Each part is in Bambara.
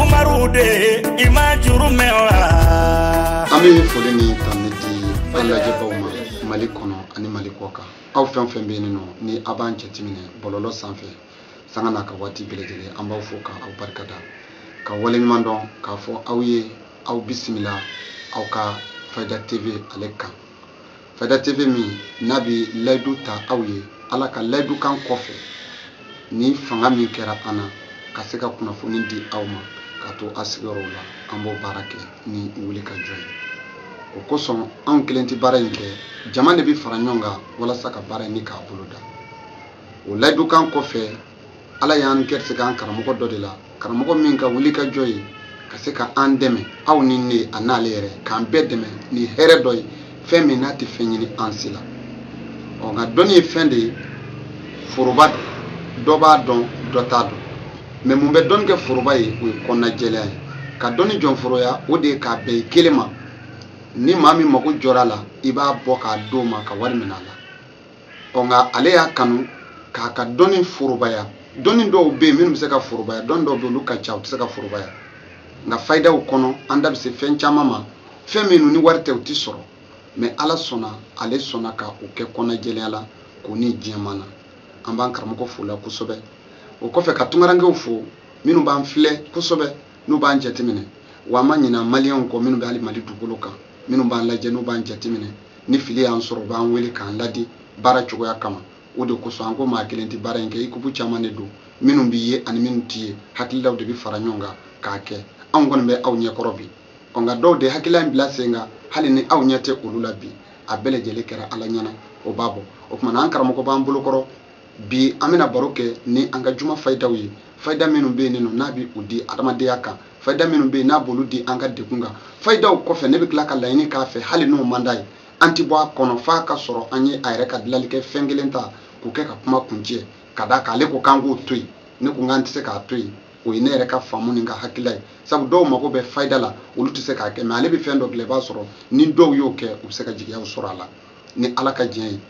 umaru de i ma juru mɛn wa. an bɛ foli ni tanuni di an lajɛbaaw ma mali kɔnɔ ani mali kɔ kan aw fɛn fɛn bɛ yen nɔ ni aw b'an jateminɛ bɔlɔlɔ sanfɛ sanga n'a ka waati bɛɛ lajɛlen an b'aw fo ka aw barika da ka waleɲuman dɔn k'a fɔ aw ye aw bisimila aw ka fayida tv ale kan fayida tv min n'a bɛ layidu ta aw ye Ala ka layidukan kɔfɛ ni fanga min kɛra an na ka se ka kunnafoni di aw ma ka to a sigiyɔrɔw la an b'o baara kɛ ni wuli ka jɔ ye o kosɔn anw kelen tɛ baara in kɛ jama de bɛ fara ɲɔgɔn kan walasa ka baara in ni k'a boloda o layidukan kɔfɛ ala y'an gɛrisigɛ an karamɔgɔ dɔ de la karamɔgɔ min ka wuli ka jɔ ye ka se ka an dɛmɛ aw ni ne a n'ale yɛrɛ k'an bɛɛ dɛmɛ ni hɛrɛ dɔ ye fɛn min n'a tɛ fɛn ɲini an si la ɔ nka dɔnni ye fɛn de ye foroba dɔ b'a dɔn dɔ t'a dɔn mɛ mun bɛ dɔnni kɛ foroba ye o ye kɔnɔna jɛlenya ye ka dɔnni jɔnforoya o de ye k'a bɛn i kelen ma ni maa min mago jɔra a la i b'a bɔ k'a d'o ma ka wari minɛ a la ɔ nka ale y'a kanu k'a ka dɔnni forobaya dɔnni dɔw bɛ yen minnu bɛ se ka forobaya dɔnni dɔw bɛ yen olu ka ca u tɛ se ka forobaya nka fayidaw kɔnɔ an da bɛ se fɛn caman ma fɛn minnu ni wari tɛ u tɛ sɔrɔ mɛ ala sɔnna ale sɔnna ka o kɛ kɔnɔjɛlenya la k'o ni diɲɛ ma na an b'an karamɔgɔ fo o la kosɛbɛ o kɔfɛ ka tunkarankew fo minnu b'an filɛ kosɛbɛ n'u b'an jateminɛ wa an ma ɲinɛ maliyɛnw kɔ minnu bɛ hali mali dugukolo kan minnu b'an lajɛ n'u b'an jateminɛ ni fili y'an sɔrɔ u b'an wele k'an ladi baara cogoya kama o de kosɔn an ko maa kelen tɛ baara in kɛ ikupu caman de don minnu b'i ye ani minnu t'i ye hakililaw de bɛ fara ɲɔgɔn kan k'a kɛ anw kɔni bɛ aw ɲɛkɔrɔ bi ɔ nka dɔw de hakilila in bila sen kan hali ni aw ɲɛ tɛ olu la bi a bɛɛ lajɛlen kɛra ala ɲɛ na o b'a bɔ o kuma na an karamɔgɔ b'an bolokɔrɔ bi an bɛna baro kɛ ni an ka juma fayidaw ye fayida minnu bɛ yen nɔ n'a bɛ u di adamadenya kan fayida minnu bɛ yen n'a b'olu di an ka degun kan fayidaw kɔfɛ ne bɛ tila ka laɲini k'a fɛ hali n'o man d'a ye an tɛ bɔ a kɔnɔ f'a ka sɔrɔ an ye a yɛrɛ ka dilanli kɛ fɛn kelen ta k'o kɛ ka kuma kuncɛ ka d'a kan ale ko k'an k'o to yen ne ko k'an tɛ se k'a to yen o ye ne yɛrɛ ka faamu ni n ka hakilila ye sabu dɔw mago bɛ fayida la olu tɛ se k'a kɛ mɛ ale bɛ fɛn dɔ dilan i b'a sɔrɔ ni dɔw y'o kɛ u bɛ se ka jigiyaw sɔrɔ a la ni ala ka diɲɛ ye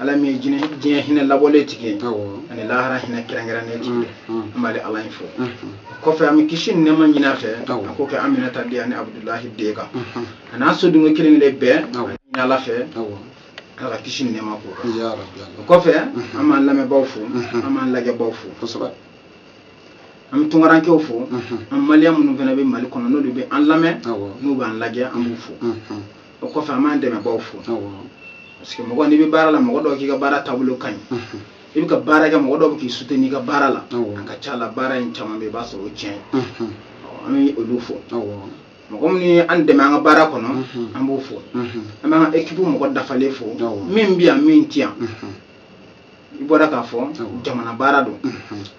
ala min ye diɲɛ hinɛ labɔlen tigi ye ani lahara hinɛ kɛrɛnkɛrɛnnen tigi ye mm, mm. an b'ale ala in fo mm-hmm. o kɔfɛ an bɛ kisi ni nɛɛma ɲin'a fɛ a k'o kɛ aminata den ani abudulahi den kan mm-hmm. a n'a so dunke kelen kelen bɛɛ ɲini ala fɛ ala ka kisi ni nɛɛma k'o kan o kɔfɛ mm-hmm. an b'an lamɛnbaaw fo an b'an lajɛbaaw fo an bɛ tunkarankew fo an maliyɛn minnu fana bɛ mali kɔnɔ n'olu bɛ an lamɛn n'u b'an lajɛ an b'u fo o kɔfɛ an b'an dɛmɛbaaw fo parce que mɔgɔ n'i bɛ baara la mɔgɔ dɔw k'i ka baara taabolo ka ɲi i bɛ ka baara kɛ mɔgɔ dɔw bɛ k'i soutenir i ka baara la a ka ca la baara in caman bɛ i b'a sɔrɔ o tiɲɛ an bɛ olu fo mɔgɔ minnu ye an dɛmɛ an ka baara kɔnɔ an b'o fo an b'an ka ekipu mɔgɔ dafalen fo min bɛ yan min ti yan i bɔra k'a fɔ jamana baara don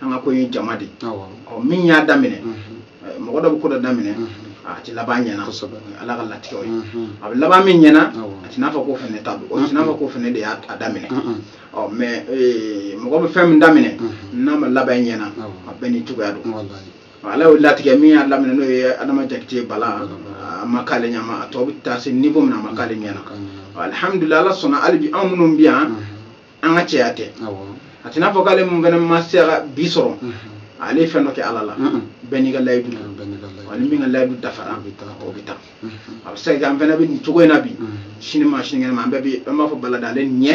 an ka ko ye jama de ɔ min y'a daminɛ mɔgɔ dɔ bɛ ko dɔ daminɛ a tɛ laban ɲɛna ala ka latigɛw ye a bɛ laban min ɲɛna a tɛna fɔ ko fana ta don o tɛna fɔ ko fana de y'a daminɛ ɔ mais mɔgɔ bɛ fɛn min daminɛ n'a ma laban ɲɛna a bɛɛ n'i cogoya don ala y'o latigɛ min y'a daminɛ n'o ye adama jakite bala a ma k'ale ɲɛma a tɔ bɛ taa se niveau min na a ma k'ale ɲɛna alihamudulila ala sɔnna hali bi anw minnu bɛ yan an ka cɛya tɛ a tɛna fɔ k'ale mun fana ma se ka bi sɔrɔ ale ye fɛn dɔ kɛ ala la bɛɛ n'i ka layidu wa ni min ka layidu dafara o bɛ taa a bɛ se ka an fana bɛ nin cogo in na bi sini ma sinikɛnɛ ma an bɛɛ bɛ an b'a fɔ bala de ale ɲɛ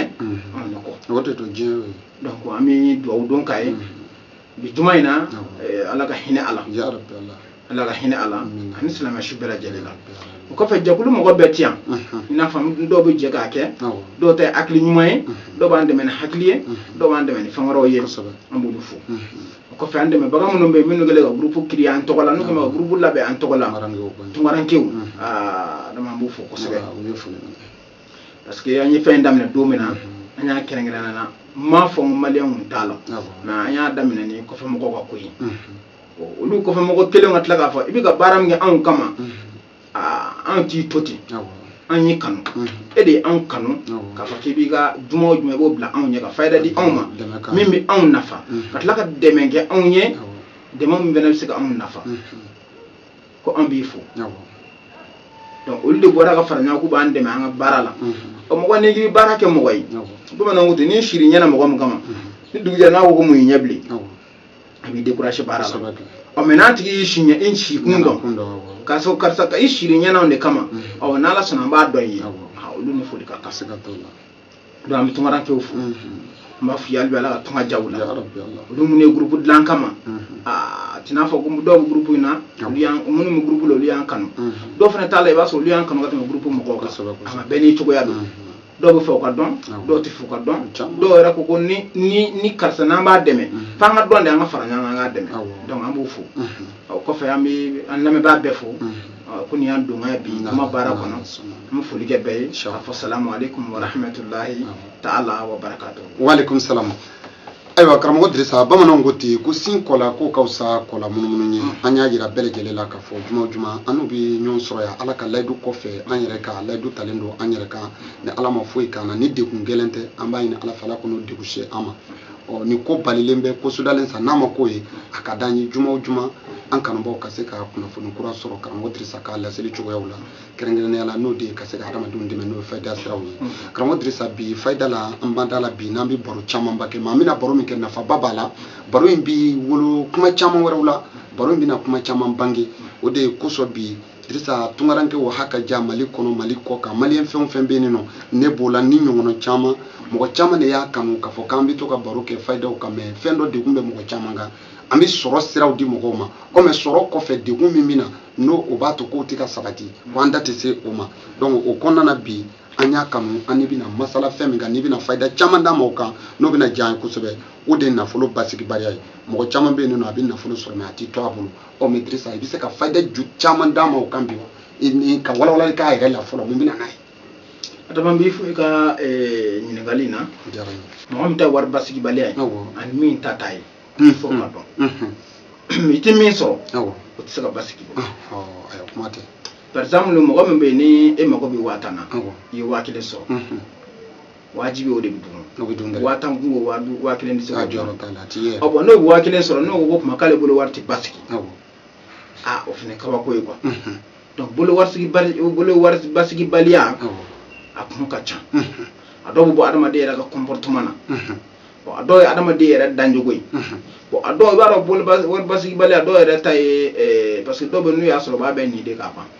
anw de kɔ donc an bɛ dugawu don k'a ye bi juma in na eh, ala ka hinɛ a la ala ka hinɛ a la ani silamɛ su bɛɛ lajɛlen la o kɔfɛ jɛkulu mɔgɔ bɛɛ ti yan i n'a fɔ dɔw bɛ jɛ k'a kɛ dɔw ta ye hakili ɲuman ye dɔw b'an dɛmɛ ni hakili ye dɔw b'an dɛmɛ ni fɛn wɛrɛw ye an b'olu fo o kɔfɛ an dɛmɛbaga minnu bɛ yen minnu kɛlen ka gurupu créer an tɔgɔ la n'u kɛlen ka gurupu labɛn an tɔgɔ la tunkarankew dama an b'u fo kosɛbɛ parce que an ye fɛn daminɛ don min na an y'a kɛrɛnkɛrɛnnenya la m'a fɔ n maliyɛn kun t'a la mais an y'a daminɛ ni kɔfɛ mɔgɔw ka ko ye olu kɔfɛ mɔgɔw kɛlen ka tila k'a fɔ i bɛ ka baara min kɛ anw kama anw t'i to ten an y'i kanu e de ye anw kanu k'a fɔ k'i b'i ka juma o juma i b'o bila anw ɲɛ ka fayida di anw ma min bɛ anw nafa ka tila ka dɛmɛ kɛ anw ye dɛmɛ min fana bɛ se ka anw nafa ko an b'i fo donc olu de bɔra ka fara ɲɔgɔn k'u b'an dɛmɛ an ka baara la o mɔgɔ n'i k'i baara kɛ mɔgɔ ye bamananw ko ten n'i sir'i ɲɛna mɔgɔ min kama ni dugu jɛra n'a ko ko mun y'i ɲɛ bilen a b'i décourager baara la ɔ mais n'a tigi y'i si ɲɛ i si kun dɔn k'a sɔrɔ karisa ka i sir'i ɲɛna anw de kama ɔ n'ala sɔnna an b'a dɔn i ye olu ni foli ka kan donc an bɛ tunkarankew fo n b'a f'i ye hali bi ala ka tunga diya u la olu minnu ye gurupu dilan an kama a t'i n'a fɔ ko dɔw bɛ gurupu in na olu y'an minnu bɛ gurupu la olu y'an kanu dɔw fana t'a la i b'a sɔrɔ olu y'an kanu ka tɛmɛ gurupu mɔgɔw kan ama bɛɛ n'i cogoya don dɔw bɛ fɛ u ka dɔn dɔw tɛ fɛ u ka dɔn dɔw yɛrɛ ko ko ni ni ni karisa n'an b'a dɛmɛ f'an ka dɔn de an ka fara ɲɔgɔn kan an k'a dɛmɛ donc an b'u fo o kɔfɛ an bɛ an lamɛnbaa bɛɛ fo ko nin y'an donkan ye bi kuma baara kɔnɔ an bɛ foli kɛ bɛɛ ye k'a fɔ salamu aleykum wa rahmatulahi ta'ala wa barakatu. wa aleykum salamu. ayiwa karamɔgɔ dirisa bamananw ko ten ko sin kɔ la k'o ka fisa kɔ lamunumunu ye an y'a jira bɛɛ lajɛlen la k'a fɔ juma o juma an n'u bɛ ɲɔgɔn sɔrɔ yan ala ka layidu kɔfɛ an yɛrɛ ka layidu talen don an yɛrɛ kan ni ala ma foyi k'an na ni degun gɛlɛn tɛ an b'a ɲini ala fɛ ala kan'o degun se an ma ɔ nin ko balilen bɛ ko sudalen sa n'a ma k'o ye a ka d'an ye juma o juma an kanubaaw ka se ka kunnafoni kura sɔrɔ karamɔgɔ dirisa ka laseli cogoyaw la kɛrɛnkɛrɛnnenya la n'o de ye ka se ka hadamadenw dɛmɛ n'o ye fayida siraw ye karamɔgɔ dirisa bi fayida la an b'an da la bi n'an bɛ baro camanba kɛ mais an bɛna baro min kɛ nafaba b'a la baro in bɛ wolo kuma caman wɛrɛw la baro in bɛna kuma caman bange o de ye kosɔn bi Dirisa tungaranke o haka ja Mali kɔnɔ Mali kɔ kan maliyɛn fɛn o fɛn bɛ yen nɔ ne b'o la ni ɲɔgɔnna caman mɔgɔ caman de y'a kanu k'a fɔ k'an bɛ to ka baro kɛ fayidaw kan mais fɛn dɔ degun bɛ mɔgɔ caman kan an bɛ sɔrɔ siraw di mɔgɔw ma ɔ mais sɔrɔ kɔfɛ degun min bɛ na n'o o b'a to k'o tɛ ka sabati ko an da tɛ se o ma donc o kɔnɔna na bi an y'a kanu an n'i bɛna masala fɛn min kan n'i bɛna fayida caman d'an ma o kan n'o bɛna diya an ye kosɛbɛ o de ye nafolo basigibaliya ye mɔgɔ caman bɛ yen nɔ a bɛ nafolo sɔrɔ mais a tɛ to a bolo ɔ mais dirisa i bɛ se ka fayida ju caman d'an ma o kan bi wa n'i ka walawalali k'a yɛrɛ la fɔlɔ mun bɛ na n'a ye adama n b'i fo i ka eh, ɲininkali in na mɔgɔ min ta wari basigibaliya ye ani min ta t'a ye i fo k'a dɔn i tɛ min sɔrɔ o tɛ se ka basigi bon kuma tɛ par exemple mɔgɔ min bɛ yen ni e mago bɛ waa tan na i ye waa kelen sɔrɔ wajibi o de bɛ dun o bɛ dun waa tan kun o waa duuru waa kelen tɛ se ka jɔyɔrɔ t'a la a ti ye ɔ bon n'o bɛ waa kelen sɔrɔ n'o ko ko kuma k'ale bolo wari tɛ basigi aa o fana kabako ye quoi donc bolo warisigi bali bolo wari basigi baliya a kun ka ca a dɔw bɛ bɔ adamaden yɛrɛ ka comportement na bon a dɔw ye adamaden yɛrɛ danjogo ye bon a dɔw i b'a dɔn bolo basigi baliya dɔw yɛrɛ ta ye parce que dɔw bɛ n'u y'a sɔrɔ u b'a bɛɛ ni de k'a ban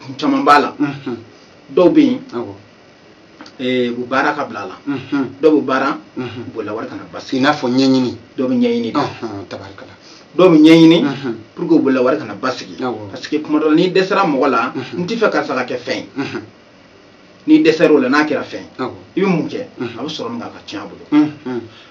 kun caman b'a la dɔw bɛ yen Eh, u bɛ baara ka bila a la mhm. dɔw bɛ baara mhm. bolola wari kana basigi i n'a fɔ ɲɛɲini dɔw bɛ ɲɛɲini de tabarikala dɔw bɛ ɲɛɲini mhm. pour que u bolola wari kana basigi parce que kuma dɔ la n'i dɛsɛra mɔgɔ la n tɛ fɛ karisa ka kɛ fɛn ye n'i dɛsɛra o la n'a kɛra fɛn ye i bɛ mun kɛ a bɛ sɔrɔ min k'a ka tiɲɛ a bolo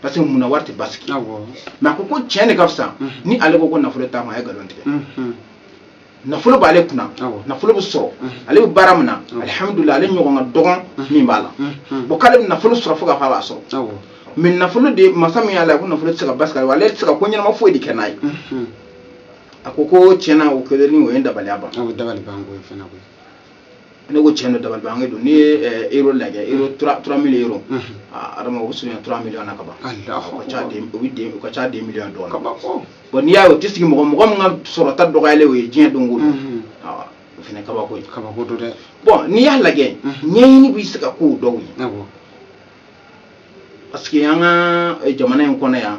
parce que munna wari tɛ basigi mais a ko ko tiɲɛ de ka fisa ni ale ko ko nafolo t'a ma a ye nkalon tigɛ nafolo b'ale kunna nafolo bɛ sɔrɔ ale bɛ baara min na alihamudulila ale ɲɔgɔn ka dɔgɔ min b'a la bon k'ale bɛ nafolo sɔrɔ fo ka fɔ a b'a sɔrɔ mais nafolo de masa min y'a la ko nafolo tɛ se ka basigi ale ale tɛ se ka ko ɲɛnama foyi de kɛ n'a ye a ko ko tiɲɛna o kɛlen ni o ye dabaliya ban ne ko tiɲɛ don dabalibanko don n'i ye eh, euro lajɛ euro trois mille euro adama o bɛ surunya trois millions na ka ban o ka ca deux o bɛ deux o ka ca deux millions dɔɔnin bon n'i y'a ye o tɛ sigi mɔgɔ mɔgɔ min ka sɔrɔta dɔgɔyalen o ye diɲɛ don o don awa o fana kabako ye kabako don dɛ bon n'i y'a lajɛ ɲɛɲini bɛ se ka k'o dɔw ye parce que an ka eh, jamana in kɔnɔ yan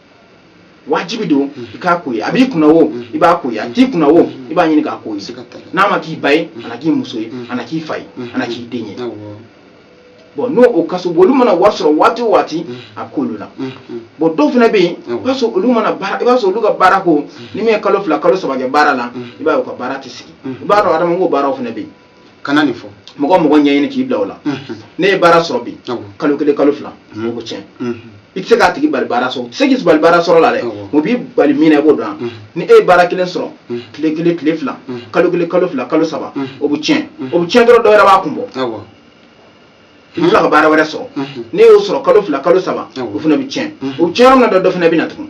wajibi don i k'a ko ye a b'i kunna o i b'a ko ye a t'i kunna o i b'a ɲini k'a ko ye n'a ma k'i ba ye a na k'i muso ye a na k'i fa ye a na k'i den ye bon n'o o kaso bon olu mana wari sɔrɔ waati o waati a k'olu la bon dɔw fana bɛ yen i b'a sɔrɔ olu mana baara i b'a sɔrɔ olu ka baara ko ni min ye kalo fila kalo saba kɛ baara la i b'a ye u ka baara tɛ sigi i b'a dɔn adamadenw baaraw fana bɛ yen kana nin fɔ mɔgɔ mɔgɔ ɲɛɲini k'i bila o la ni e ye baara sɔrɔ bi kalo kelen kalo fila o bɛ tiɲɛ i tɛ se k'a tigi bali baara sɔrɔ u tɛ se k'i bali baara sɔrɔ la dɛ u b'i bali min na i b'o dɔn ni e ye baara kelen sɔrɔ tile kelen tile fila kalo kelen kalo fila kalo saba o bɛ tiɲɛ o bɛ tiɲɛ dɔrɔn dɔ wɛrɛ b'a kun bɔ i bɛ tila ka baara wɛrɛ sɔrɔ ni e y'o sɔrɔ kalo fila kalo saba o fana bɛ tiɲɛ o bɛ tiɲɛ yɔrɔ min na dɔ dɔ fana bɛ na tugun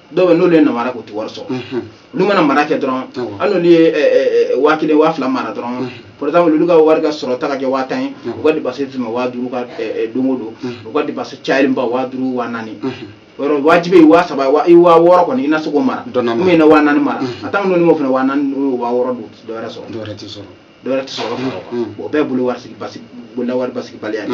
dɔw bɛ n'olu ye namara k'u tɛ wari sɔrɔ olu mana mara kɛ dɔrɔn hali n'olu ye waa kelen waa fila mara dɔrɔn par exemple olu ka wari ka sɔrɔta ka kɛ waa tan ye u ka dépense tɛmɛ waa duuru kan don o don u ka dépense cayalenba waa duuru waa naani yɔrɔ wajibi ye waa saba i waa wɔɔrɔ kɔni i na se k'o mara ou bien i na waa naani mara a tan n'olu m'o fana waa naani n'olu waa wɔɔrɔ don dɔ wɛrɛ sɔrɔ dɔ wɛrɛ tɛ sɔrɔ dɔ wɛrɛ tɛ sɔrɔ o bɛɛ bolo wari sigi basi bolola wari basigibaliya de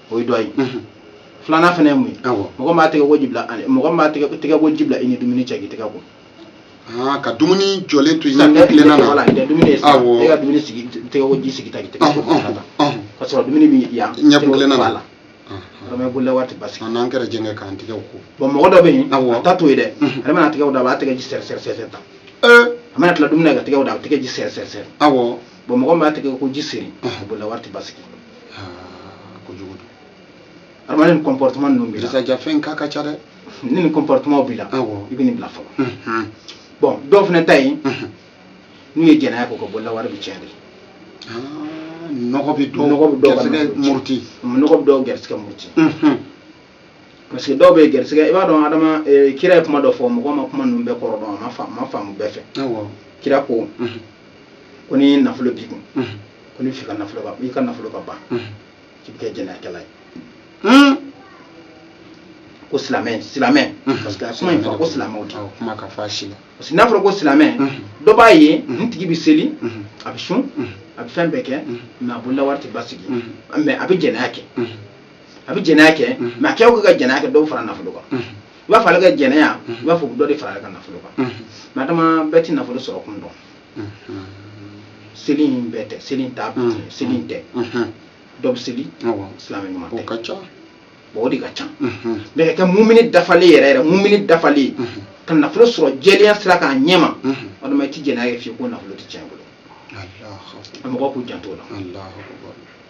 o ye dɔ ye filanan fana ye mun ye mɔgɔ min b'a tɛgɛ ko ji bila mɔgɔ min b'a tɛgɛ ko ji bila i ni dumuni cɛ k'i tɛgɛ ko ah, ka dumuni jɔlen to i ɲɛ tilenna na voilà tɛ dumuni ye sa e ka dumuni sigi tɛgɛ ko ji sigi ta k'i tɛgɛ ko ta ka sɔrɔ dumuni bɛ yan ɲɛ tilenna na voilà vraiment bolola wari tɛ basigi an n'an yɛrɛ jɛngɛ k'an tɛgɛw ko bon mɔgɔ dɔ bɛ yen a ta t'o ye dɛ ale mana tɛgɛw da a b'a tɛgɛ ji sɛri sɛri sɛri ta a mana tila dumuni na ka tɛgɛw da a bɛ tɛgɛ ji sɛri sɛri sɛri awɔ bon mɔgɔ min b'a tɛgɛ ko ji seri bolola wari tɛ basigi kojugu don adamaden ni comportement ninnu b'i la jisajafɛn k'a ka ca dɛ ni nin comportement b'i la i bɛ nin bila fɔlɔ bon dɔw fana ta ye n'u ye jɛnɛya k'o ka bolola wari bɛ tiɲɛ de nɔgɔ bɛ dɔw nɔgɔ bɛ dɔw garisigɛ muruti nɔgɔ bɛ dɔw garisigɛ muruti parce que dɔw bɛ garisigɛ i b'a dɔn adama kira ye kuma dɔ fɔ mɔgɔ ma kuma ninnu bɛɛ kɔrɔ dɔn a ma faamu bɛɛ fɛ kira ko ko ni nafolo b'i kun ko n'i b'a fɛ i ka nafolo ka i ka nafolo ka ban k'i bɛ kɛ jɛnɛyakɛla ye hmm? ko silamɛ silamɛ hmm. parce que a kuma in fɔ ko silamɛw de kuma ka fɔ a si la parce que n'a fɔra ko silamɛ hmm. dɔ b'a ye n tigi bɛ seli a bɛ sun a bɛ fɛn bɛɛ kɛ mais a bolola wari tɛ basigi mais a bɛ jɛnɛya kɛ a bɛ jɛnɛya kɛ mais a kɛ o kɛ ka jɛnɛya kɛ dɔ bɛ fara nafolo kan i b'a fɔ ale ka jɛnɛya i b'a fɔ dɔ de fara ale ka nafolo kan mais adama bɛɛ tɛ nafolo sɔrɔ kun dɔn seli in bɛɛ tɛ seli in t'a bɛɛ seli in tɛ dɔ bɛ seli silamɛ ɲuman tɛ bon o de ka ca mais ka kɛ mumini dafalen yɛrɛ yɛrɛ mumini dafalen ka nafolo sɔrɔ jɛlenya sira kan a ɲɛma adama i tɛ jɛnɛya kɛ fiyewu ko nafolo tɛ tiɲɛ bolo mɔgɔw k'u janto o la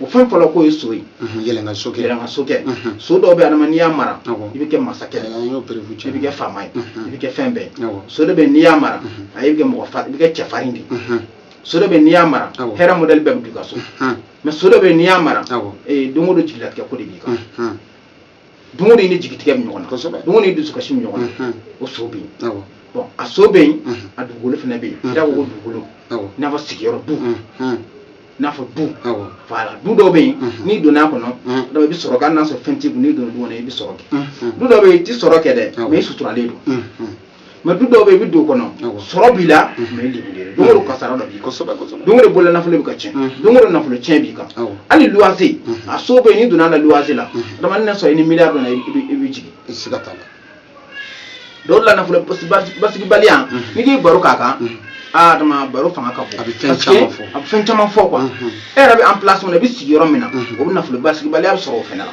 o fɛn fɔlɔ k'o ye so ye yɛlɛnkan so kɛ yɛlɛnkan so kɛ so dɔw bɛ adama n'i y'a mara i bɛ kɛ masakɛ i bɛ kɛ faama ye i bɛ kɛ fɛn bɛɛ so dɔ bɛ n'i y'a mara a i bɛ kɛ mɔgɔ fa i bɛ kɛ cɛfarin de so dɔ bɛ n'i y'a mara hɛrɛ modèle bɛɛ bɛ don i ka so mais so dɔ bɛ n'i y'a mara don o don jigilatigɛ ko de b'i kan don o don i ni jigitigɛ bɛ ɲɔgɔn na kosɛbɛ don o don i ni dusukasi bɛ ɲɔgɔn na o so bɛ yen awɔ bon a so bɛ yen a dugukolo fana bɛ yen i n'a fɔ ko dugukolo awɔ i n'a fɔ sigiyɔrɔ du i n'a fɔ du awɔ voilà du dɔw bɛ yen n'i donna a kɔnɔ dɔrɔn i bɛ sɔrɔ kɛ hali n'a sɔrɔ fɛn t'i kun n'i donna du kɔnɔ i bɛ sɔrɔ kɛ du dɔw bɛ yen i tɛ sɔrɔ kɛ dɛ Awɔ. mais i suturalen don mais du dɔw bɛ i bɛ don o kɔnɔ sɔrɔ b'i la mais i libere don o don kasara dɔ b'i kan don o don bolola nafolo bɛ ka tiɲɛ don o don nafolo tiɲɛ b'i kan hali luwase a so bɛ yen n'i donna a la luwase la adama n'a sɔrɔ i ni miliyari donna i bɛ jigin siga t'a la dɔw la nafolo basigibaliya n'i k'i baro k'a kan aa adama baro fanga ka bon a bɛ fɛn caman fɔ a bɛ fɛn caman fɔ quoi e yɛrɛ bɛ emplacement min na i bɛ sigi yɔrɔ min na o bɛ nafolo basigibaliya bɛ sɔrɔ o fana la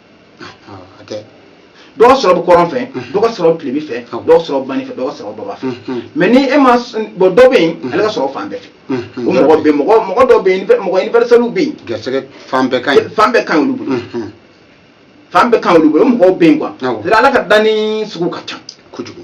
a tɛ dɔ ka sɔrɔ bɛ kɔrɔn fɛ dɔ ka sɔrɔ bɛ tilebin fɛ dɔ ka sɔrɔ bani fɛ dɔ ka sɔrɔ baba fɛ mais ni e ma bon dɔ bɛ yen ale ka sɔrɔ fan bɛɛ fɛ o mɔgɔ bɛ mɔgɔ mɔgɔ dɔ bɛ yen mɔgɔ universelw bɛ yen gɛrɛsɛgɛ fan bɛɛ ka ɲi fan bɛɛ ka ɲi olu bolo fan bɛɛ ka ɲi olu bolo o mɔgɔw bɛ yen quoi ala ka danni sugu ka ca kojugu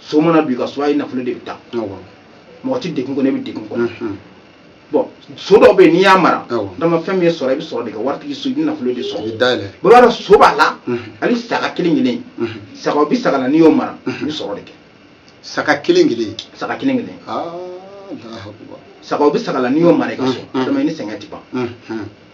so mana don i ka so ayi nafolo de bɛ taa mɔgɔ tɛ degun kɔnɔ i bɛ degun kɔnɔ mhm. bon so dɔ bɛ yen n'i y'a mara adama fɛn min ye sɔrɔ i bɛ sɔrɔ de kɛ waritigi so i bɛ nafolo de sɔrɔ bɛɛ b'a dɔn so b'a la mhm. hali saga kelen kelen mhm. saga o bɛ saga la n'i y'o mara i bɛ sɔrɔ de kɛ saga kelen kelen saga kelen kelen ah, saga o bɛ saga la n'i y'o mara i ka so adama i ni sɛgɛn tɛ ban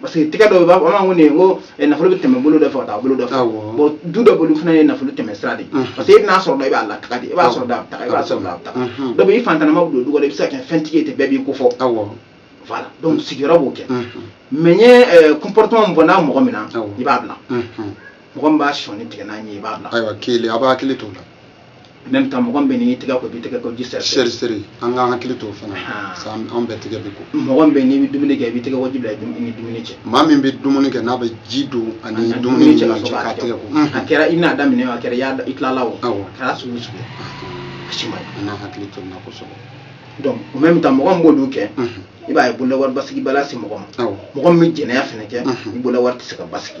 parce que tɛgɛ dɔ bɛ b'a fɔ an b'a ko nin ko eh, nafolo bɛ tɛmɛ bolo dɔ fɛ ka taa bolo dɔ fɛ bon du dɔ bolo fana ye nafolo tɛmɛ sira de ye parce que e bɛn'a sɔrɔ dɔrɔn i b'a lataga de i b'a sɔrɔ dɔrɔn a bɛ taga i b'a sɔrɔ dɔrɔn a bɛ taga dɔ bɛ i fantanama bɛ don du kɔnɔ i bɛ se ka kɛ fɛntigi ye ten bɛɛ b'i ko fɔ voilà donc sigiyɔrɔ b'o kɛ mais n ye eh, comportement min fɔ n'a mɔgɔ min na i b'a bila mɔgɔ min b'a sɔnin tigɛ n'a ɲin ye i b'a bila ayiwa kelen a b'a hakili to o la même temps mɔgɔ min bɛ n'i tɛgɛ ko i b'i tɛgɛ ko ji seri seri seri an k'an hakili to o fana parce que an bɛɛ tɛgɛ bɛ ko mɔgɔ min bɛ n'i bɛ dumuni kɛ i b'i tɛgɛ ko ji bila i ni dumuni cɛ maa min bɛ dumuni kɛ n'a bɛ ji don a ni dumuni cɛ k'a tɛgɛ ko a kɛra i n'a daminɛ a kɛra i y'a i tilala o a kɛra sugu sugu a si ma ɲi an k'an hakili to nin na kosɛbɛ donc au même temps mɔgɔ min b'olu kɛ i b'a ye bololawari basigibaliya se mɔgɔ ma mɔgɔ min bɛ jɛnɛya fana kɛ i bololawari tɛ se ka basigi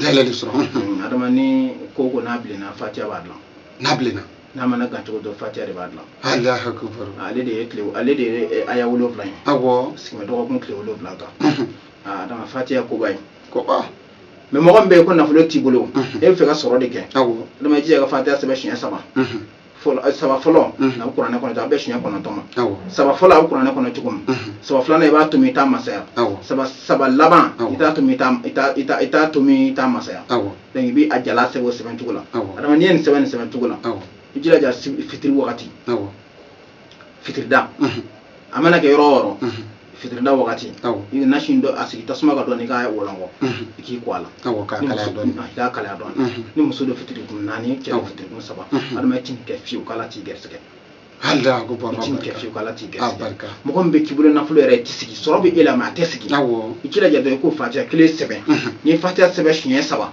dayɛlɛ de sɔrɔ adama ni ko ko n'a bilenna fatiya b'a dilan n'a bilenna n'a mana gan cogo dɔ fatiya de b'a dilan alahu akubaru ale de ye tile ale de ye eh, aya wolonwula ye awɔ sigimɛ dɔgɔkun tile wolonwula kan Mhm. Ah, adama fatiya koba ye koba mais mɔgɔ min bɛ yen ko nafolo t'i bolo Mhm. e b'a fɛ ka sɔrɔ de kɛ awɔ adama i jija ka fatiya sɛbɛn siɲɛ saba Mhm. fɔlɔ saba fɔlɔ a bɛ kuranɛ kɔnɔ a bɛ siɲɛ kɔnɔntɔn ma saba fɔlɔ a bɛ kuranɛ kɔnɔ cogo min saba filanan i b'a tomi i t'a masaya saba laban i t'a tomi i t'a tomi i t'a masaya donc i bɛ a jala sɛbɛn o sɛbɛn cogo la adama n'i ye nin sɛbɛn nin sɛbɛn cogo la i jilaja fitiri wagati fitirida a mana kɛ yɔrɔ o yɔrɔ fitirida wagati i bɛ nasi dɔ a sigi tasuma kan dɔɔni i k'a wɔlɔnkɔ i k'i ko a la k'a kalaya dɔɔni ni muso don fitiri kun naani cɛ fitiri kun saba adama i t'i kɛ fiyewu k'ala t'i gɛrɛsɛgɛ mɔgɔ min bɛ k'i bolo nafolo yɛrɛ tɛ sigi sɔrɔ bɛ e la mais a tɛ sigi i jilaja dɔrɔn i k'o fatiya kelen sɛbɛn n'i ye fatiya sɛbɛn siɲɛ saba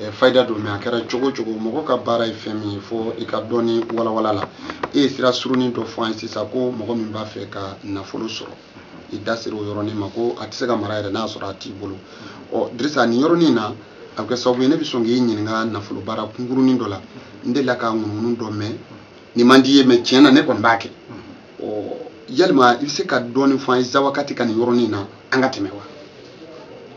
eh, fayida don mais a kɛra cogo cogo mɔgɔ ka baara ye fɛn min ye fo i ka dɔɔni walawala la e ye sira surunin dɔ fɔ an ye sisan ko mɔgɔ min b'a fɛ ka nafolo sɔrɔ i da sera o yɔrɔnin ma ko a tɛ se ka mara yɛrɛ n'a sɔrɔ a t'i bolo ɔ dirisa nin yɔrɔnin in na a bɛ kɛ sababu ye ne bɛ sɔn k'i ɲininka nafolo baara kunkurunin dɔ la n delila ka ŋunuŋunu dɔ mɛn nin man d'i ye mais tiɲɛ na ne kɔni b'a kɛ yalima i bɛ se ka dɔɔnin fɔ an ye zawakati ka nin yɔrɔnin na an ka tɛmɛ wa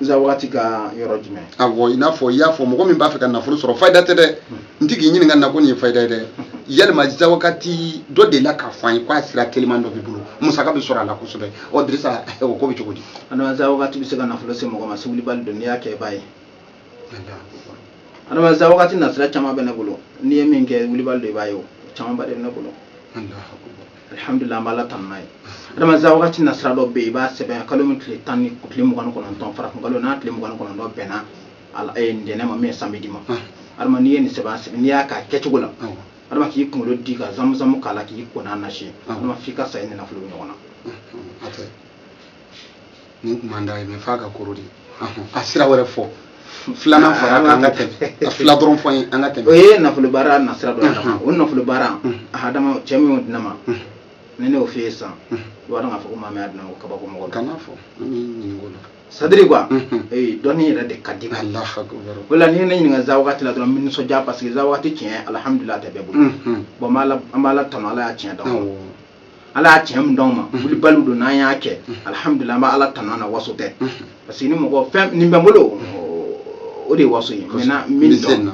zawakati ka yɔrɔ jumɛn awɔ i n'a fɔ i y'a fɔ mɔgɔ min b'a fɛ ka nafolo sɔrɔ fayida tɛ dɛ n tɛ k'i ɲininka nin na ko nin ye fayida ye dɛ yalima zawakati dɔ delila k'a fɔ an ye k'a sira teliman dɔ b'i bolo musaka bɛ sɔrɔ a la kosɛbɛ ɔ dirisa o ko bɛ cogo di zawakati bɛ se ka nafolo se mɔgɔ ma se wulibali don n'i y'a kɛ i b'a ye adama zawakati nasira caman bɛ ne bolo n'i ye min kɛ wulibali don i b'a ye o camanba de bɛ ne bolo alihamudulila an b'ala tanu n'a ye adama zawakati nasira dɔ bɛ yen i b'a sɛbɛn kalo min tile tan ni tile mugan ni kɔnɔntɔn farafin kalo n'a tile mugan ni kɔnɔntɔn bɛnna eh, ntɛnɛn ma min ye samedi ma adama n'i ye nin sɛbɛn sɛbɛn n'i y'a k'a kɛcogo la adama k'i kunkolo di ka zamuzamu k'a la k'i ko n'a nasi adama f'i ka sa i ni nafolo bɛ ɲɔgɔn na nin tun man d'a ye mais f'a ka koro de a sira wɛrɛ fɔ filanan fara kan an ka tɛmɛ a fila dɔrɔn fɔ ye an ka tɛmɛ o ye nafolo baara nasira dɔ ye o nafolo baara adama cɛ min y'o di ne ma ni ne y'o f'i ye sisan i b'a dɔn k'a fɔ ko maa min y'a di ne ma ko kabako mɔgɔ kana fɔ an b'i ɲininka o la c'est-à-dire quoi ee dɔnni yɛrɛ de ka di o la n'i ye ne ɲininka zawakati la dɔrɔn n bɛ nisɔndiya parce que zawakati tiɲɛ alihamudulila a tɛ bɛɛ bolo bon an b'ala tanu ala y'a tiɲɛ d'an ala y'a tiɲɛ min d'anw ma wulibaliw don n'an y'a kɛ alihamudulila an bɛ ala tanu an na waso tɛ parce que ni mɔgɔ fɛn nin bɛ n bolo o de ye waso ye maintenant min dɔn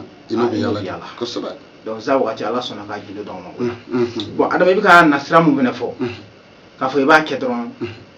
yala kosɛbɛ donc zawakati ala sɔnna k'a gindo d'anw ma bon adama i bɛ ka nasira mun fɛnɛ fɔ k'a fɔ i b'a kɛ dɔrɔn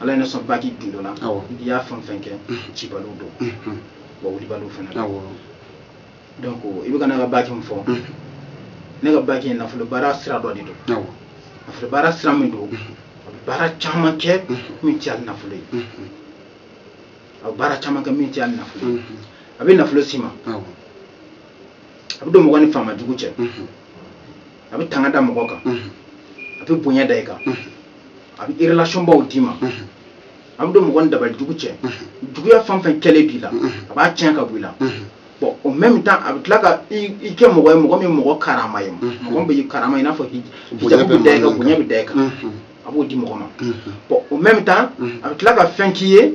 ala ye ne sɔn baki gindo la n'i y'a fɛn fɛn kɛ cibaliw don wa wulibaliw fana don donc i bɛ ka ne ka baki min fɔ ne ka baki ye nafolobaara sira dɔ de don nafolobaara sira min don a bɛ baara caman kɛ min tɛ hali nafolo ye a bɛ baara caman kɛ min tɛ hali nafolo ye a bɛ nafolo s'i ma a bɛ don mɔgɔ ni faama jugu cɛ a bɛ tanga da mɔgɔ kan a bɛ bonya da i kan a bɛ relation baw d'i ma a bɛ don mɔgɔ ni dabali jugu cɛ juguya fɛn fɛn kɛlen b'i la a b'a tiɲɛ ka bɔ i la bon au même temps a bɛ tila ka i kɛ mɔgɔ ye mɔgɔ min mɔgɔ karama ye mɔgɔ bɛ karama i n'a fɔ hijabu bɛ da i kan bonya bɛ da i kan a b'o di mɔgɔ ma bon au même temps a bɛ tila ka fɛn k'i ye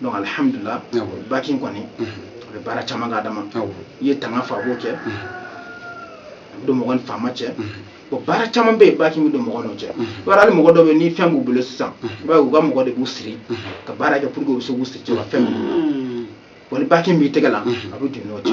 donc alihamudulila baki in kɔni a bɛ baara caman kɛ adama i ye tanga fɔ a b'o kɛ a bɛ don mɔgɔ ni faama cɛ bon baara caman bɛ yen baki in bɛ don mɔgɔ n'o cɛ i b'a dɔn hali mɔgɔ dɔ bɛ ni fɛn b'u bolo sisan i b'a ye u ka mɔgɔ de b'u siri ka baara kɛ pour que u bɛ se k'u siri cɛ ka fɛn minɛ u la bon ni baki in b'i tɛgɛ la a bɛ don n'o cɛ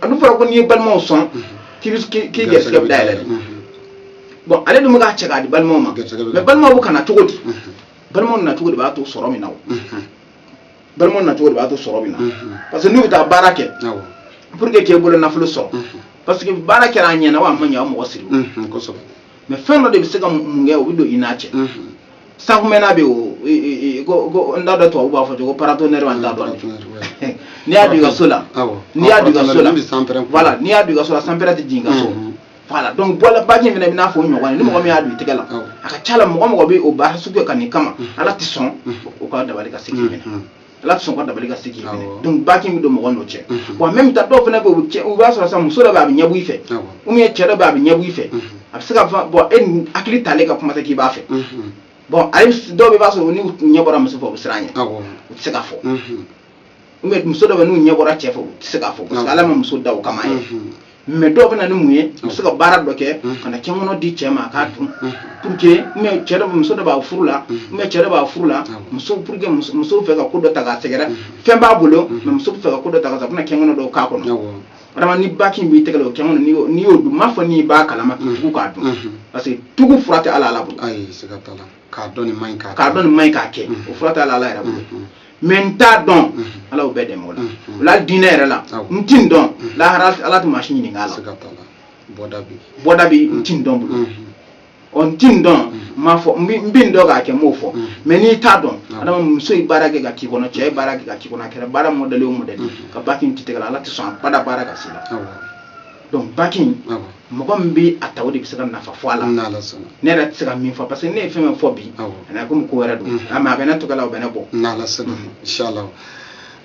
a dun fɔra ko n'i ye balimaw sɔn k'i gɛrisigɛ bɛ dayɛlɛ de bon ale dun bɛ k'a cɛ k'a di balimaw ma mais balimaw bɛ ka na cogo di balimaw na cogo de b'a to sɔrɔ min na o balimaw na cogo de b'a to sɔrɔ bɛ na parce que n'u bɛ taa baara kɛ pour que k'e bolo nafolo sɔrɔ parce que baara kɛra a ɲɛna wa a ma ɲɛ wa mɔgɔ siri mais fɛn dɔ de bɛ se ka mun kɛ o bɛ don i n'a cɛ sankumɛna bɛ yen ko n t'a dɔn tubabu b'a fɔ cogo paratonnerre wa n t'a dɔn n'i y'a don i ka so la n'i y'a don i ka so la voilà n'i y'a don i ka so la sanpɛrɛn tɛ jigin i ka so voilà donc baki fana bɛ n'a fɔ o ɲɔgɔn ye ni mɔgɔ min y'a don i tɛgɛ la a ka ca la mɔgɔ mɔgɔ bɛ o baara sugu kɛ ka n'i kama ala tɛ sɔn o ka dabali ka se k'i minɛ ala tɛ sɔn o ka dabali ka se k'i minɛ donc baki in bɛ don mɔgɔ n'o cɛ bon même temps dɔw fana bɛ i b'a sɔrɔ sa muso dɔ bɛ a bɛ ɲɛbɔ i fɛ ou bien cɛ dɔ bɛ a bɛ ɲɛbɔ i fɛ a bɛ se k'a fɔ bon e ni hakili t'ale kan kuma tɛ k'i b'a fɛ bon hali dɔw bɛ i b'a sɔrɔ n'u ɲɛ bɔra muso fɛ u bɛ siran a ɲɛ u tɛ se k'a fɔ ou bien muso dɔ bɛ n'u ɲɛ bɔra cɛ fɛ u tɛ se k'a fɔ parce que ala ma muso da o kama ye mais dɔw bɛna ni mun ye muso ka baara dɔ kɛ ka na kɛkɔnɔ di cɛ ma a k'a dun pour que mais cɛ dɔ muso dɔ b'a furu la mais cɛ dɔ b'a furu la muso pour que muso fɛ ka ko dɔ ta k'a sɛgɛrɛ fɛn b'a bolo mais muso fɛ ka ko dɔ ta ka sa a bɛna kɛkɔnɔ dɔ k'a kɔnɔ adama ni baki in b'i tɛgɛ la o kɛkɔnɔ n'i y'o dun n m'a fɔ n'i b'a kalama k'i tugu k'a dun parce que tugu fura tɛ ala ala bolo k'a dɔn nin man ɲi k'a dɔn nin man ɲi k'a kɛ o fura t'a la ala yɛrɛ bolo mais n t'a dɔn ala y'o bɛɛ dɛmɛ o la o la diinɛ yɛrɛ la n ti n dɔn lahara ala tɛ maa si ɲininka a la bɔda bi n ti n dɔn bolo ɔ n ti n dɔn n m'a fɔ n bɛ n dɔn k'a kɛ n m'o fɔ mais n'i t'a dɔn adama muso ye baara kɛ ka k'i kɔnɔ cɛ ye baara kɛ ka k'i kɔnɔ a kɛra baara mɔdɛli o mɔdɛli ka baki in t'i tɛgɛ la ala tɛ sɔn abada baara ka s'i la donc baki in mɔgɔ min bɛ a ta o de bɛ se ka nafa fɔ a la ne yɛrɛ tɛ se ka min fɔ parce que ne ye fɛn min fɔ bi a na komi ko wɛrɛ don a ma a bɛ ne tɔgɔ la o bɛ ne bɔ inshallah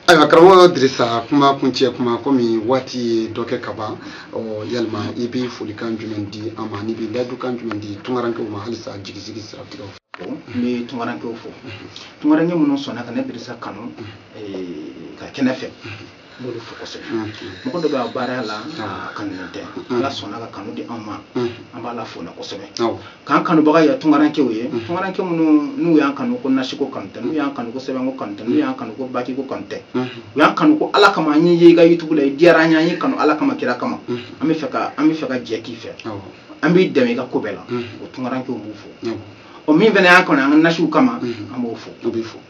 ayiwa karamɔgɔ dirisa kuma kuncɛ kuma kɔmi waati ye dɔ kɛ ka ban yalima i bɛ folikan jumɛn di an ma n'i bɛ layidukan jumɛn di tunkarankew ma halisa jigisigi siratigɛw fɛ n bɛ tunkarankew fo tunkaranke minnu sɔnna ka ne dirisa kanu ka kɛnɛ fɛ n b'olu fo kosɛbɛ mɔgɔ dɔ bɛ a baara la a kanunen tɛ ala sɔnna ka kanu di anw ma an b'ala fo o na kosɛbɛ k'an kanubaga ye tunkarankew ye tunkaranke minnu n'u y'an kanu ko nasiko kanu tɛ n'u y'an kanu ko sɛbɛnko kanu tɛ n'u y'an kanu ko bakiko kanu tɛ u y'an kanu ko ala kama an y'i ye i ka yutubu la i diyara an ye an y'i kanu ala kama kira kama an bɛ fɛ ka jɛ k'i fɛ an b'i dɛmɛ i ka ko bɛɛ la o tunkarankew b'u fo o min fana y'an kanu an ka nasiw kama an b'o fo o bɛ fo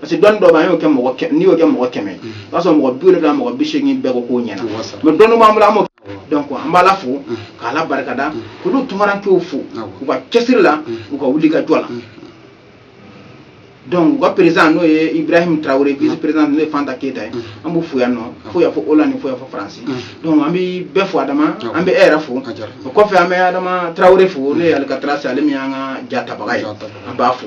parce que dɔnni dɔ b'an y'o kɛ mɔgɔ kɛ n'i y'o kɛ mɔgɔ kɛmɛ o b'a sɔrɔ mɔgɔ bi wolonwula mɔgɔ bi seegin bɛɛ ko k'o ɲɛna mɛ dɔnni b'an bolo an b'o donc an b'ala fo k'ala barikada k'olu tunkarankew fo u ka cɛsiri la u ka wuli ka jɔ la donc u ka président n'o ye ibrahim tarawele vice président n'o ye fanta keyita ye an b'u fo yan nɔ fo y'a fɔ olandi fo y'a fɔ faransi donc an bɛ bɛɛ fo adama an bɛ e yɛrɛ fo o kɔfɛ an bɛ adama tarawele fo n'o ye alcatraz ale min y'an ka jatabaga ye an b'a fo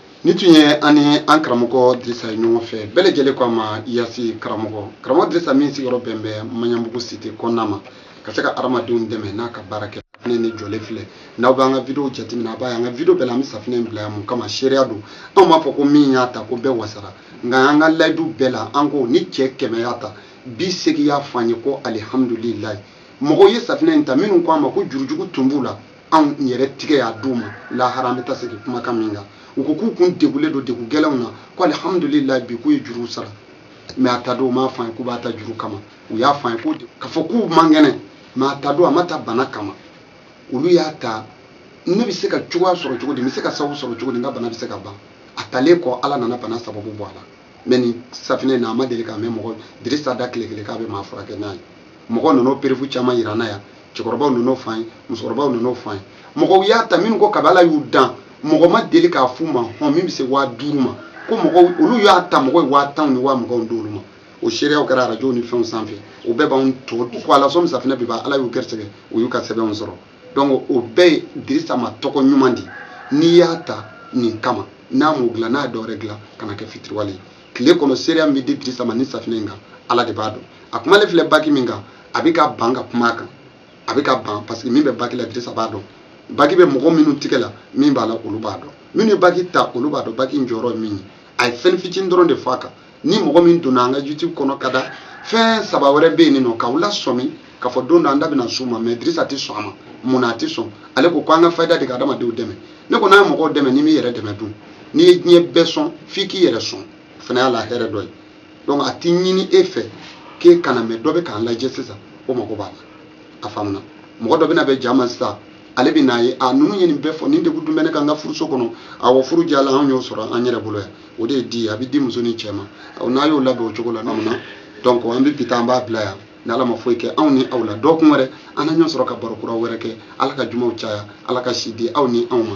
nin tun ye an ni an karamɔgɔ dirisa ye ɲɔgɔn fɛ bɛɛ lajɛlen ko a ma yasi karamɔgɔ karamɔgɔ dirisa min sigiyɔrɔ bɛn bɛ maɲanbugu site kɔnɔna ma ka se ka adamadenw dɛmɛ n'a ka baarakɛfɛn nin jɔlen filɛ n'aw b'an ka video jateminɛ a b'a ye an ka video bɛɛ la an bɛ safinɛ in bila yan mun kama seereya don anw m'a fɔ ko min y'a ta ko bɛɛ wasara nka an ka layidu bɛɛ la an ko ni cɛ kɛmɛ y'a ta bi seegin y'a fɔ an ye ko alihamudulilayi mɔgɔw ye safinɛ in ta minnu ko an ma ko jurujugu tun b'u la anw yɛrɛ tigɛ y'a d'u ma lahara an bɛ taa segin kumakan min kan u ko k'u kun degulen don degun gɛlɛnw na ko alihamudulila bi k'u ye juruw sara mɛ a ta don u m'a fɔ an ye k'u b'a ta juru kama u y'a fɔ an ye ko k'a fɔ k'u man kɛnɛ mɛ a ta don a ma ta bana kama olu y'a ta ne bɛ se ka cogoya sɔrɔ cogo di n bɛ se ka sababu sɔrɔ cogo di n ka bana bɛ se ka ban a talen kɔ ala nana bana sababu bɔ a la mɛ nin safinɛ in na a ma deli k'a mɛn mɔgɔ dirisa da tile kelen k'a bɛ maa furakɛ n'a ye mɔgɔ ninnu preuve caman yira an na yan cɛkɔrɔbaw ninnu fan ye musokɔrɔbaw ninnu fan ye mɔgɔw y'a ta minnu ko kab'ala y'u dan mɔgɔ ma deli k'a f'u ma hɔn min bɛ se waa duuru ma ko mɔgɔw olu y'a ta mɔgɔ ye waa tanw ni waa muganw d'olu ma o seereyaw kɛra arajow ni fɛnw sanfɛ o bɛɛ b'anw to ko ala sɔn safinɛ bɛ ban ala y'u gɛrɛsɛgɛ u y'u ka sɛbɛnw sɔrɔ donc o bɛɛ ye dirisa ma tɔgɔ ɲuman di n'i y'a ta nin kama n'a m'o dilan n'a ye dɔ wɛrɛ dilan kana kɛ fitiriwale ye tile kɔnɔ seereya min bɛ di dirisa ma nin safinɛ in kan ala de b'a dɔn a kumalen filɛ baki min kan a bɛ ka ban ka kuma a kan a bɛ ka ban parce que min bɛ baki la dirisa b'a dɔn baki bɛ mɔgɔ minnu tigɛ la min b'a la olu b'a dɔn minnu ye baki ta olu b'a dɔn baki in jɔyɔrɔ ye min ye a ye fɛn fitinin dɔrɔn de fɔ a kan ni mɔgɔ min donna an ka youtube kɔnɔ ka da fɛn saba wɛrɛ bɛ yen nɔ k'aw lasɔmi k'a fɔ don dɔ an da bɛna s'u ma mɛ dirisa tɛ sɔn a ma mun na a tɛ sɔn ale ko ko an ka fayida de ka adamadenw dɛmɛ ne ko n'a ye mɔgɔw dɛmɛ n'i m'i yɛrɛ dɛmɛ dun n'i ye diɲɛ bɛɛ sɔn f'i k'i yɛrɛ sɔn o fana y'a la hɛrɛ dɔ ye donc a tɛ ɲini e fɛ k'e kana mɛ dɔ bɛ k'an lajɛ sisan o mago b'a la a faamuna mɔgɔ dɔ bɛna bɛ jama sisan ale bɛn'a ye a ninnu ye nin bɛɛ fɔ nin degun dun bɛ ne kan n ka furuso kɔnɔ awɔ furu diyalan anw y'o sɔrɔ an yɛrɛ bolo yan o de ye di ye a bɛ di muso ni cɛ ma n'a y'o labɛn o cogo la n'aw na donc an bɛ bi ta an b'a bila yan ni ala ma foyi kɛ anw ni aw la dɔgɔkun wɛrɛ an na ɲɔgɔn sɔrɔ ka baro kura wɛrɛ kɛ ala ka jumaw caya ala ka si di aw ni anw ma